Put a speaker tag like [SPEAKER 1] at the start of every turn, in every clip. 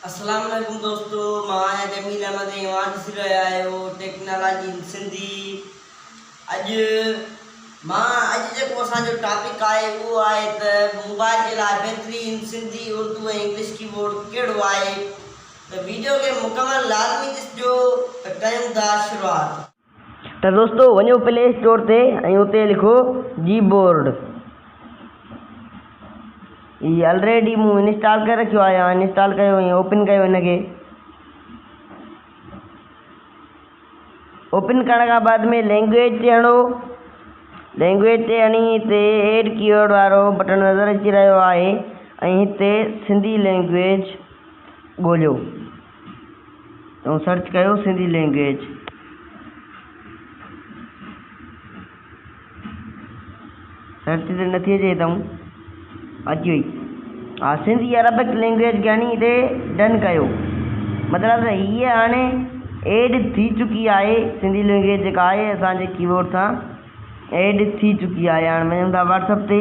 [SPEAKER 1] اسلام عليڪم دوستو مان آهيان جميل احمد ۽ اوهان ڏسي رهيا آهيو ٽيڪنالاجي ان سنڌي اڄ مان اڄ جيڪو اسان جو ٽاپڪ آهي اهو آهي ته موبائل جي لاء بهترين سنڌي اردو ۽ انگلش ڪيبورڊ ڪهڙو آهي ته ويڊيو کي مڪمل لازمي ڏسجو ته ڪيون ٿا شروعات. ته دوستو وڃو پلي اسٽور تي ۽ اتي لکو جي بورڊ هي آلريڊي مون انسٽال ڪري رکيو آهي هاڻ انسٽال ڪيو ۽ اوپن ڪيو هن کي اوپن ڪرڻ کان بعد ۾ لينگويج تي هڻو لينگويج تي هڻي هتي ايڊ ڪيورڊ وارو بٽڻ نظر اچي رهيو آهي ۽ هتي سنڌي لينگويج ڳوليو تون سرچ ڪيو سنڌي لينگيج. سرچ تي نٿي اچي اتون اچي وئي ها سنڌي عربڪ لينگيج ڳڻي تي ڊن ڪيو مطلب ته هيء هاڻي ايڊ ٿي چڪي آهي سنڌي لينگيج جيڪا آهي اسان جي ڪيبورڊ سان ايڊ ٿي چڪي آهي هاڻي وڃون ٿا واٽسپ تي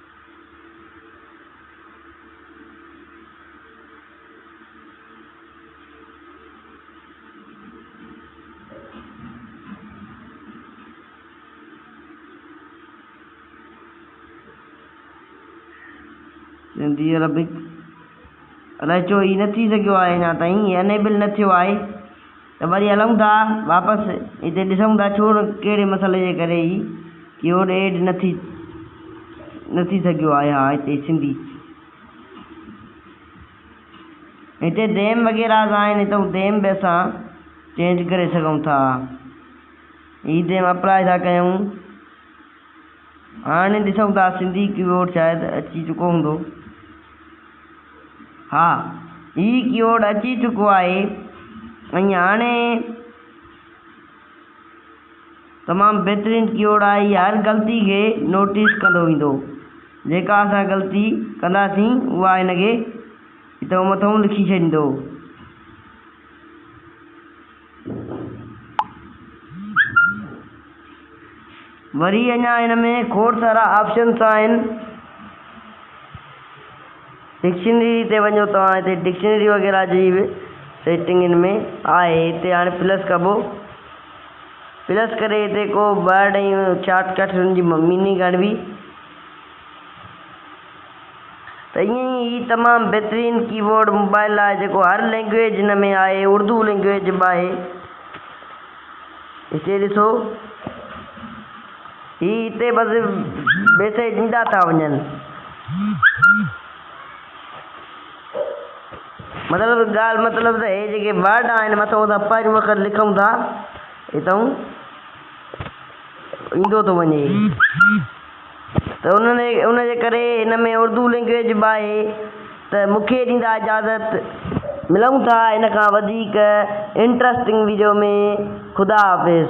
[SPEAKER 1] سنڌي عربڪ رچو ئي نٿي سگهيو آهي اڃا تائين انيبل نه ٿيو آهي ته وري هلون ٿا واپس هتي ڏسون ٿا ڇو نه ڪهڙي مسئلي جي ڪري هي ڪيورڊ ايڊ نه ٿي نه ٿي سگهيو آهي ها هتي سنڌي هتي ديم وغيره سان آهن هتو ديم به اسان چينج ڪري سگهون ٿا هي ديم اپلائي ٿا ڪيون هاڻي ڏسون ٿا سنڌي ڪيبورڊ شايد اچي چڪو هوندو ها هي ڪيبورڊ اچي چڪو آهي ۽ هاڻي تمام بهترين ڪيبورڊ آهي هي هر غلطي کي نوٽيس ڪندو ويندو جيڪا اسان غلطي ڪنداسين اها هن کي هتئون مٿئون لکي ڇڏيندو. وري اڃا هن ۾ کوڙ سارا آپشنس آهن ڊڪشنري تي وڃو توهان هتي ڊڪشنري وغيره جي به سيٽنگ هن ۾ آهي هتي هاڻي پلس ڪبو پلس ڪري هتي ڪو ورڊ ۽ شارٽ ڪٽ هن جي ميننگ هڻبي ته ائين ئي هي تمام بهترين ڪيبورڊ موبائل لاء جيڪو هر لينگويج هن ۾ آهي اردو لينگويج به آهي هتي ڏسو هي هتي بس ميسيج ڏيندا ٿا وڃن مطلب ڳالهه مطلب ته هي جيڪي ورڊ آهن مٿو اسان پنهنجو وقت لکون ٿا هتون ايندو ٿو وڃي ته ان جي ڪري ان ۾ اردو لينگويج به آهي ته مون کي ڏيندا اجازت ملون ٿا ان کان وڌيڪ انٽرسٽنگ ويڊيو ۾ خدا حافظ.